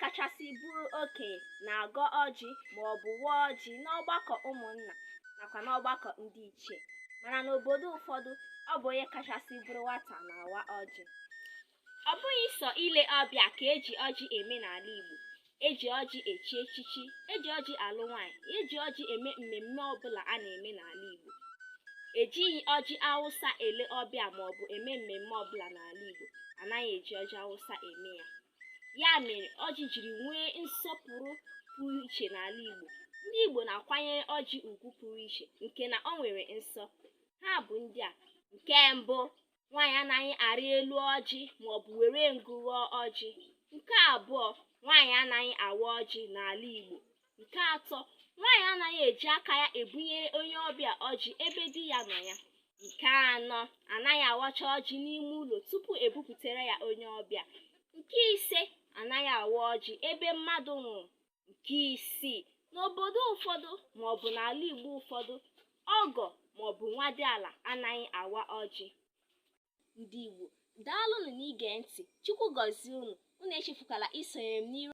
kachasị bụrụ okenye na-agọ ọjị ma ọ bụ waa ọjị n'ọgbakọ ụmụnna nakwa n'ọgbakọ ndị ichie mana n'obodo ụfọdụ ọ bụ onye kachasị bụrụ nwata na-awa ọjị ọ bụghị sọ ile ọbịa ka eji ọjị eme n'ala Igbo eji ọjị echi echichi eji ọjị alụ nwaanyị eji ọjị eme mmemme ọbụla a na-eme n'ala Igbo ejighị ọjị awụsa ele ọbịa maọbụ eme mmemme ọbụla n'ala Igbo anaghị eji ọjị awụsa eme ya ya mere ọjị jiri nwee nsọpụrụ pụrụ iche n'ala Igbo ndị Igbo na-akwanyere ọjị ugwu pụrụ iche nke na ọ nwere nsọ ha bụ ndị a nke mbụ nwaanyị anaghị arị elu ọjị maọbụ were ngụ ghọọ ọjị nke abụọ nwaanyị anaghị awa ọjị n'ala Igbo nke atọ nwaanyị anaghị eji aka ya ebunyere onye ọbịa ọjị ebe di ya nọ ya nke anọ anaghị awacha ọjị n'ime ụlọ tupu ebuputere ya onye ọbịa nke ise anaghị awa ọjị ebe mmadụ nwụrụ nke isii n'obodo ụfọdụ maọbụ n'ala igbo ụfọdụ ọgọ maọbụ nwadiala anaghị awa ọjị ndị igbo daalụnụ n'ige ntị chukwu gọzie unu unu echefukwala isonyere m n'iru